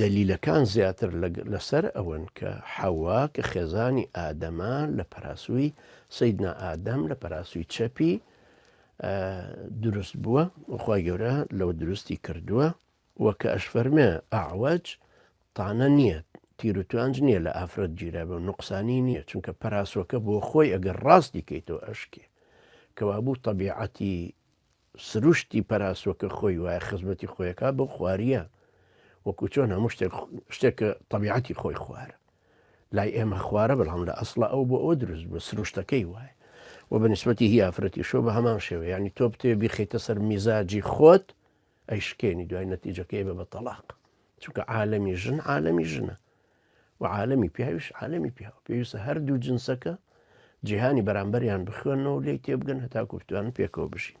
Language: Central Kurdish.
دەلیلەکان زیاتر لەسەر ئەوەن کە حەوا کە خێزانی ئادەمە لە پەراسووی سەیدنا ئادەم لە پەراسووی چەپی دروست بووە وخوای گەورە لەوە دروستی کردووە و کە ئەش فەرمێ ئاوەج تانە نییە تیروتوانج نییە لە ئافرەت گیرا بە نقصانی نییە چونکە پەراسۆکە بۆ خۆی ئەگەر ڕاستی کەیتەوە ئەشکێ کەوابوو طبیعەتی سروشتی پەراسوەکە خۆی وایە خزمەتی خۆیەکە بەو خواریە وەکو چۆن هەموو شتێک شتێکە طبیعەتی خۆی خوارە لای ئێمە خوارە بەڵام لە ئەسڵە ئەو بۆ ئەوە دروست بە سروشتەکەی وایە و بەنسبەتی هی ئافرەتی شۆ بە هەمان شێوە ینی تۆ بتێ بیخیتە سەر میزاجی خۆت ئەیشکێنی دوای نەتیجەکەی بە بە تەلاق چونکە عالەمی ژن عالەمی ژنە و عالەمی پیاویش عالەمی پیاو پێویستە هەردوو جنسەکە جیهانی بەرامبەریان بخوێنەوە لێی تێبگەن هەتاکو بتوان پێکەوە بژین